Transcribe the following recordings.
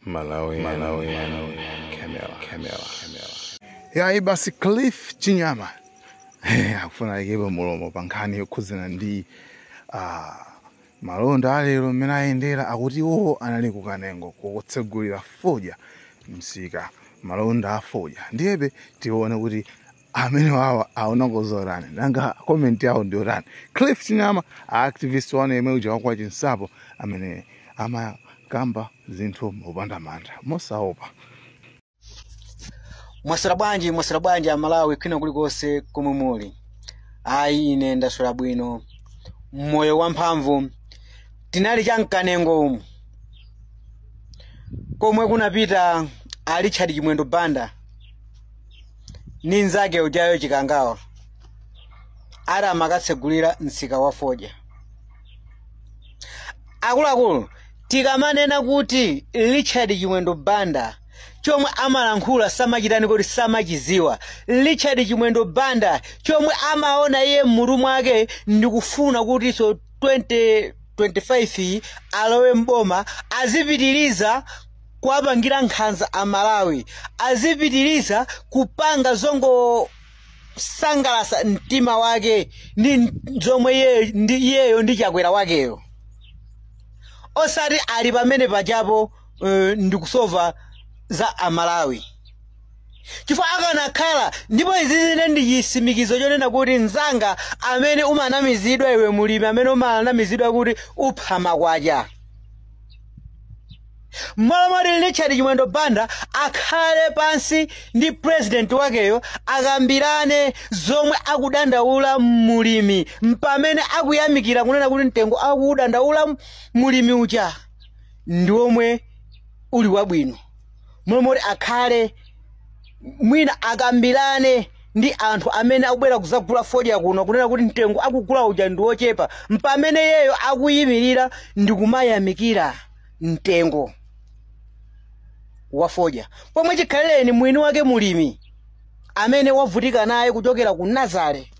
Malawi, Malawi, Malawi, Camera, Camera, Camera. yayi basi cliff chinyama Eh, akufuna aikepo mlomo pa nkhani yokhudzana ndi ah, malonda alero mmene ayendera akuti iwowo anali ku Kanengo kukatsegulira fodya msika malonda a fodya ndiyebe tione kuti amene awa awona zotani nanga comment yawo ndi yotani cliff chinyama activist wanu yemwe uja wakwa chinsapo amene amakamba zinthu mopanda mantha mosaopa mwaswera bwanji mwaswera bwanji amalawi kwina kulikonse komwe muli ayi ine ndaswera bwino moyo wamphamvu tinali cha mkanengo umu komwe kunapita a richard chimwendo banda ni nzake ujayo chikangawa ati amakatsegulira msika wa fodya akuluakulu tikamanena kuti richard chimwendo banda chomwe amalankhula samachitani kuti samachiziwa richard chimwendo banda chomwe amaona iye m'mutu mwake ndikufuna kutinso 2025 alowe mboma azipitiriza kuwapangira nkhanza a Malawi azipitiriza kupanga zongosangalasa mtima wake ndi zomwe iye- ndi iyeyo ndi chakwera wakeyo osati ali pamene pajapo eh, ndikusova za amalawi chifukwa akanakhala ndipo izi ndine ndi chisimikizo chonena kuti mzanga amene umanamizidwa iwe mulimi amene umanamizidwa kuti upha makwacha mmalo moti richard chimwendo banda akhale pansi ndi purezidenti wakeyo akambirane zomwe akudandaula mulimi mpamene akuyamikira kunena kuti mtengo akuudandaula mulimi uja ndi womwe uli wabwino mmalo moti akhale mwina akambirane ndi anthu amene akubwera kuzagula fodya kuno kunena kuti mtengo akugula uja ndi wochepa mpamene iyeyo akuyimirira ndi kumayamikira mtengo wafodya pomwe chikhalireni mwini wake mulimi amene wavutika naye kuchokera ku nazale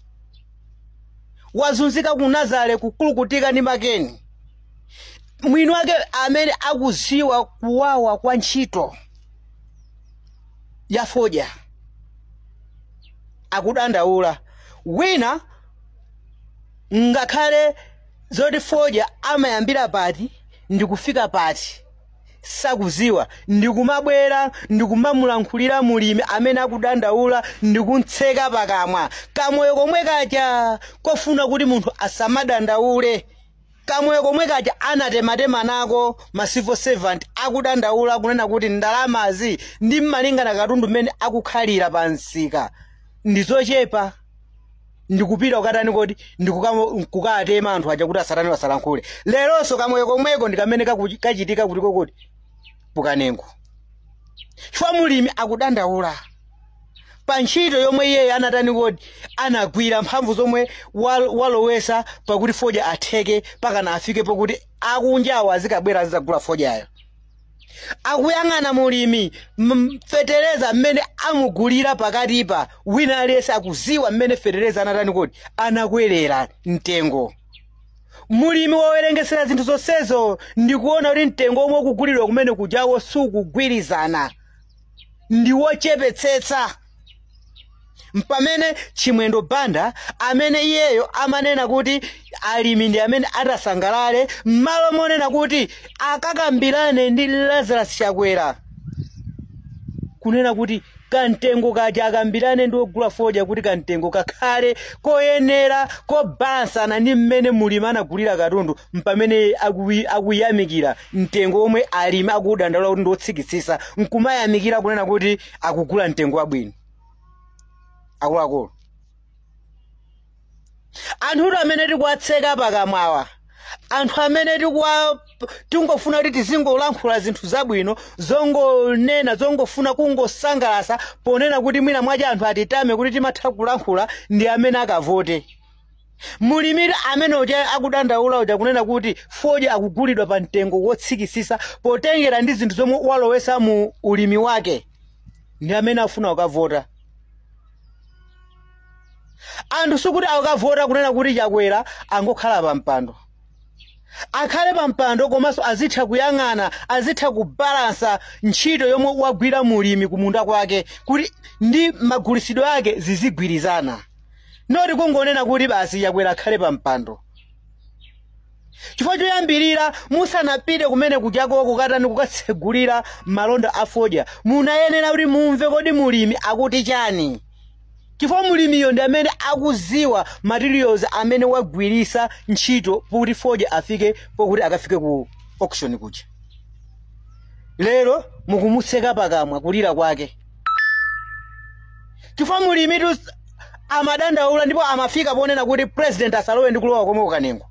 wazunzika ku nazale kukulukutika ndi makeni mwini wake amene akuziwa kuwawa kwa ntchito ya fodya akudandaula wina ngakhale zoti fodya amayambira pati ndikufika pati sakuziwa ndikumabwera ndikumamulankhulira mulimi amene akudandaula ndikumtseka pakamwa kamoyo komwe kaja kofuna kuti munthu asamadandaule kamoyo komwe kaja anatematema nako ma civil servants akudandaula kunena kuti ndalamazi ndi mmalingana katundu mmene akukhalira pa msika ndizochepa ndikupita kukatani kodi ndikuka- kukatema anthu aja kuti asatani wasalankhule leronso kamoyo komweko ndikamene kakuchi- kachitika kutiko kodi pa kanengo chifukwa mulimi akudandaula pa ntchito yomwe iyeyi anatani kodi anagwira mphamvu zomwe wal- walowesa pakuti fodya atheke pakana afike pokuti akunjawo azikabwera azizagula fodyayo akuyang'ana mulimi m- fetereza mmene amugulira pakatipa wina aliyense akuziwa mmene fetereza anatani kodi anakwerera mtengo mulimi wawerengesera zinthu zonsezo ndikuona kuti mtengo omwe ukugulidwa kumene kujawo sukugwirizana ndi wochepetsetsa mpamene chimwendo banda amene iyeyo amanena kuti alimi ndi amene atasangalale m'malo monena kuti akakambirane ndi lazarus chakwera kunena kuti kamtengo kaja akambirane ndi ogula fodya kuti kamtengo kakhale koyenera kobalansana ndi mmene mulimi anagulira katundu mpamene akuyi- akuyamikira mtengo omwe alimi akuudandaula kuti ndiwotsikitsisa nkumayamikira kunena kuti akugula mtengo wabwino akuluakulu anthutu amene tikuwatseka pakamwawa anthu amene tingofuna kuti tizingolankhula zinthu zabwino zongonena zongofuna kungosangalasa ponena kuti mwina mwaja anthu atitame kuti timatha kulankhula ndi amene akavote mulimi amene uja akudandaula uja kunena kuti fodya akugulidwa pa mtengo wotsikisisa potengera ndi zinthu zomwe walowesa mu ulimi wake ndi amene afuna kukavota anthu sikuti akukavota kunena kuti chakwera angokhala pa mpando akhale pa mpando komanso azitha kuyang'ana azitha kubalansa ntchito yomwe wagwira mulimi kumunda kwake kuti ndi magulisidwe ake zizigwirizana noti kungonena kuti basi chakwera akhale pa mpando chifukwa choyambirira musanapite kumene kujako kukatani kukatsegulira malonda a fodya munayenera kuti mumve kodi mulimi akuti chani chifukwa mulimiyo ndi amene akuziwa materials amene wagwirisa ntchito kuti fodya afike pokuti akafike ku auction kuja lero mukumutseka pakamwa kulira kwake chifukwa mulimitu s- amadandaula ndipo amafika ponena kuti president asalowe ndi kulowa komwe kukanengo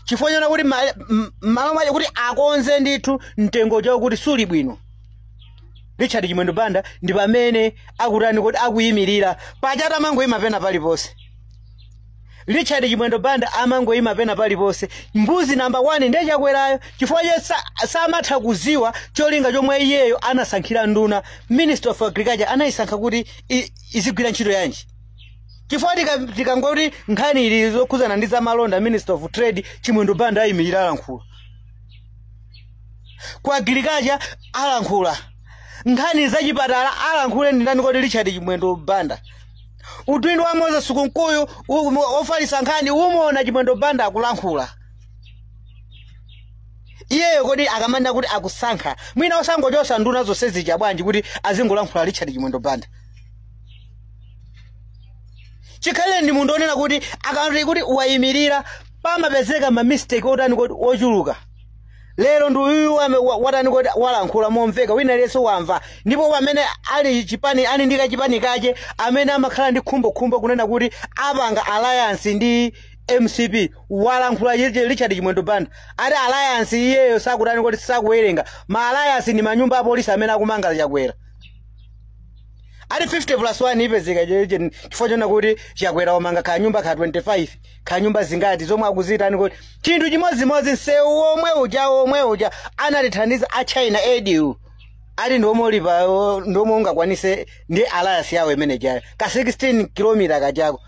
chifukwa chona kuti ma- m- m'malo mwache kuti akonze ndithu mtengo chawo kuti suli bwino richard chimwendo banda ndi pamene akutani kodi akuyimirira pachata amangoyima pena paliponse richard chimwendo banda amangoyima pena paliponse mbuzi namba 1 ndiye chakwerayo chifukwa che sa- samatha kuziwa cholinga chomwe iyeyo anasankhira nduna minister of agriculture anayisankha kuti i- izigwira ntchito yanji chifukwa tika- tikangoti nkhani ili zokhuzana ndi zamalonda minister of trade chimwendo banda ayimirira alankhula ku agriculture alankhula nkhani zachipatala alankhule ndindani kodi richard chimwendo banda udindo wa moses kunkuyu u- mu- ofalitsa nkhani umuona chimwendo banda akulankhula iyeyo kodi akamanena kuti akusankha mwina osangochosa nduna zonse zija bwanji kuti azingolankhula richard chimwendo banda chikhalireni ndi munthu onena kuti akati kuti wayimirira pamapezeka mamistake otani kodi ochuluka lero ndi uyu wame- wa- watani kodi walankhula momveka wina aliyense wamva ndipo pamene ali chipani ali ndi kachipani kache amene amakhala ndi khumbokhumbo kunena kuti apanga alliance ndi mcp walankhula Richard- richard chimwendo banda ati alliance iyeyo sakutani kodi sakuwerenga ma alliance ndi manyumba apolisi amene akumanga chakwera ati 50 plus 1 ipezeka chifukwa chona kuti chakwera wamanga kanyumba ka 25 kaya nyumba zingati zomwe akuzitani kodi chinthu chimodzimodzi msewu womwe uja womwe uja anatithandiza a china aid ati ndi omwe ulipa o- ndi omwe ungakwanise ndi alliance yawo imene ijayo ka 16 kilomita kajako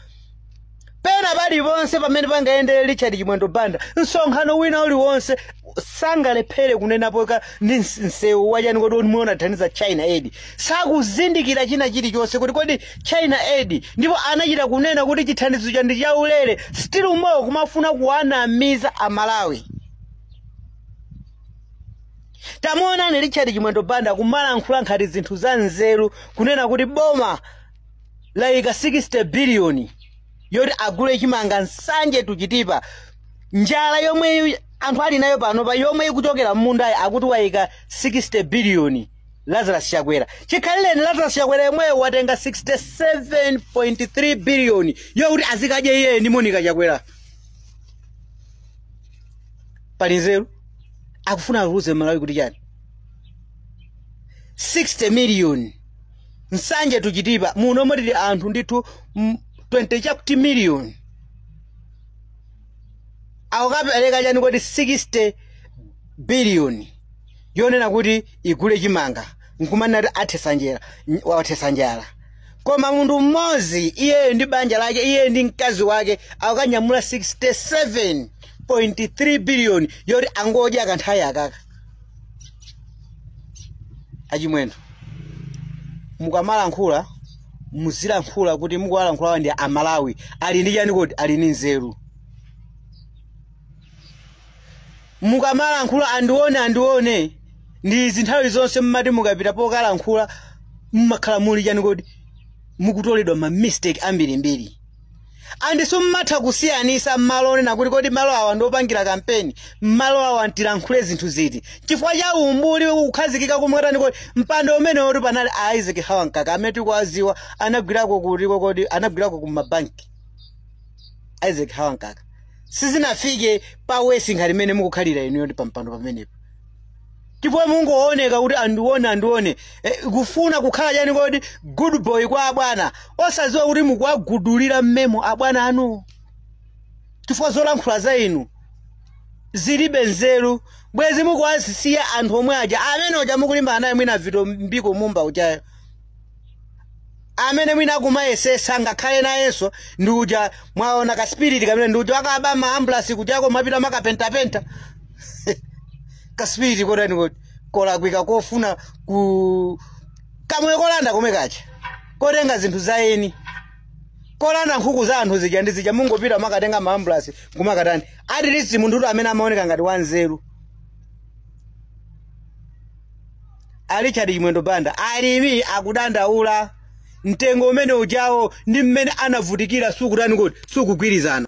pena paliponse pamene pangayendere richard chimwendo banda msonkhano wina uliwonse sangalephere kunenapo ka ndi ns- msewu wachani kodi omwe anathandiza china aid sakuzindikira china chilichonse kuti kodi china aid ndipo anachita kunena kuti chithandizo chija ndi chaulere still more kumafuna kuwanamiza amalawi tamuonani richard chimwendo banda kumalankhula ngati zinthu za nzeru kunena kuti boma layika 60 biliyoni yoti agule chimanga nsanje to chitipa njala yomwe anthu ali nayo panopa yomwe ikuchokera mmundayi akuti wayika 60 biliyoni lazarus chakwera chikhalireni lazarus chakwera yemweyo watenga 67.3 biliyoni yokuti azikadya iyeyo ndi monica chakwera pali nzeru akufuna awuze mmalawi kuti chani 60 miliyoni nsanje to chitipa muno momwe tili anthu ndithu mm, 20 chakuti miliyoni akukapereka chani kodi 60 biliyoni yonena kuti igule chimanga nkumanena kuti athetsa njala n- wathetsa njala koma munthu mmodzi iyeyo ndi banja lake iyeyo ndi mkazi wake akanyamula 67.3 biliyoni yoti angodya kanthawi akaka achimwendo mukamalankhula muzilankhula kuti mukuwalankhulawa ndi amalawi ali ndi chani kodi ali ndi nzeru mukamalankhula andione andione ndi zinthawi zonse mmati mukapita pokalankhula mmakhala muli chani kodi mukutoledwa ma mistake ambirimbiri andiso mmatha kusiyanisa malo onena kuti kodi malo awa ndiopangira kampeni malo awa ntilankhule zinthu ziti chifukwa cha umbuli kukhazikika kumwatani kodi mpando umene woti panali a isaac hawankaka amene tikuwaziwa anagwirako kutiko kodi anagwirako kumabanki isaac hawankaka sizinafike pa wesi ngati mmene mukukhalira inuyo ndi pampando pamenepo ndipo mungooneka kuti andione andione eh, kufuna kukhala chani kodi good boy kwa abwana osadziwa kuti mukuwagudulira mmemo abwana anu chifukwa zolankhula za inu zilibe nzeru bwezi mukuwasiya anthu omwe aja amene uja mukulimbana naye mwina vitumbiko mumba ujayo amene mwina akumayesesa ngakhale nayenso ndi uja mwaona ka spirit kamene ndi uja akaba ma ambulance kuja kumapita kumakapentapenta ka spirit kotani koti kolakwika kofuna ku kamoyo kolanda komwe kaja kotenga zinthu za eni kolanda nkhuku za anthu zija ndi zija mungopita kumakatenga ma ambulance kumakatani at least munthu amene amaoneka ngati wanzeru a richard chimwendo banda alimi akudandaula mtengo umene ujawo ndi mmene anavutikira sukutani kuti sukugwirizana